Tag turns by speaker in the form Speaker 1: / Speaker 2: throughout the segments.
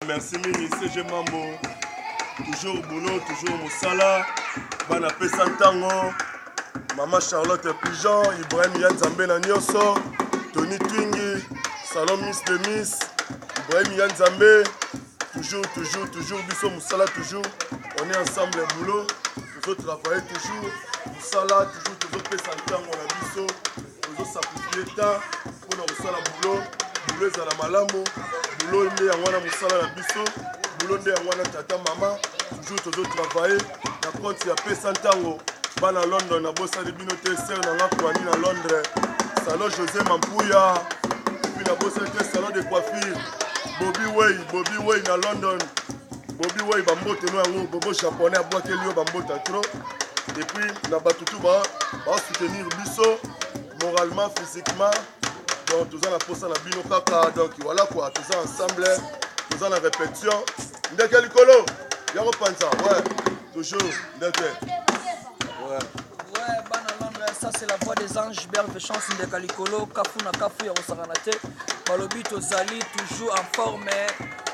Speaker 1: Merci mingi CG Mambo. Toujours boulot, toujours mosala. Bana pesa ntango. Mama Charlotte Pigeon, Ibrahim Yanzambe na nyoso, Tony Twingi, Salon Miss de Miss, Ibrahim Yanzambe. Toujours, toujours, toujours, biso mosala toujours. On est ensemble boulot. Toujours travailler toujours. Mosala toujours, toujours pesa ntango na biso. Tozo sacrifier temps pona kosala boulot, boulot ezala malamu, boulot nde yango wana mosala na biso, boulot nde yango wana tata mama, toujours tozo travailler na compte ya pesa ntango bana London na bosali bino te sœur na nga Kwani na Londres, salon José Mampuya, puis na bosali te salon de coiffure Bobby Way, Bobby Way na London. Bobi Wai ba mbote no yango bobo japonais abwakeli yo ba mbota trop et puis na bato tout ba ba soutenir biso moralement physiquement donc toza na posa na bino kaka donc voilà quoi toza ensemble toza na répétition ndeke likolo yango panza ouais toujours ndeke ouais
Speaker 2: ça c'est la voix des anges berve chance ndeka likolo kafu na kafu ya kosakana te balobi tozali toujours en forme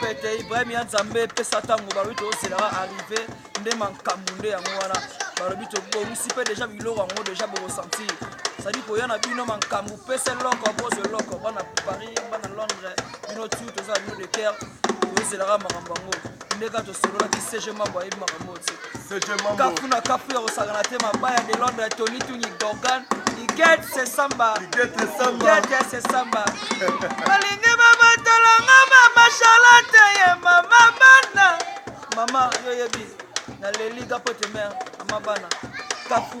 Speaker 2: pete ibrahim ya nzambe epesa ntango balobi tozelaka arrive nde makambo nde yango wana balobi tobongisi mpe deja biloko yango deja bokosentir sadi koya na bino makambo pesa eloko bozo eloko bana paris bana londres bino tu tozala bino de ker tozelaka makambo yango ndeka tosololaki cg mambo ayebi makambo oyo te kafu na kafu ya kosakana te mabaya de londre tony tuni dorgan iget sesamba iget sesamba balingi babatolanga mama charlotte ye mama bana mama yo yebi na leli gapote mare mama bana kafu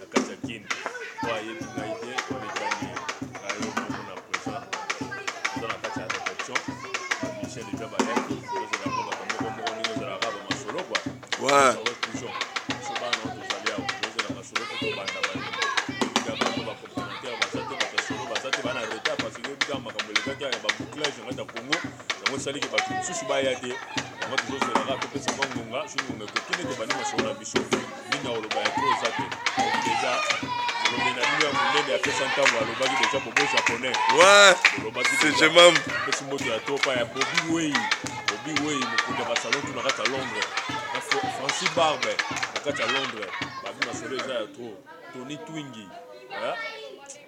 Speaker 1: na kati ya kin po ayebi ngai te onetangi ayo bango na present oza na kati ya réflexion michel eja bayaki ozela mpo bato moko moko ndenge ozalaka ba masolo kua ouais. toujours biso bana nao tozali awa ozela masolo mpo tobanda bato ya bango bacomplémentaire baza te bato ya solo baza te bana retard parce que ebikaka makambo elekaki ya babouclage ngati ya congo yango esali ke bato mosusu baya te yango tozozela kaka topesa mwa ngonga soki ngonga ekoki nde tobandi masolo na biso mingi na koloba ya to eza te deja molobi na bino ya monene apesa ntango alobaki deja bobo japonais olobaki pesi moto ya to pa ya
Speaker 3: bobi wei bobi wei mokonzi ya basalon to na kati ya londres francis barbe na kati ya londres babi masolo eza ya tro tony twingi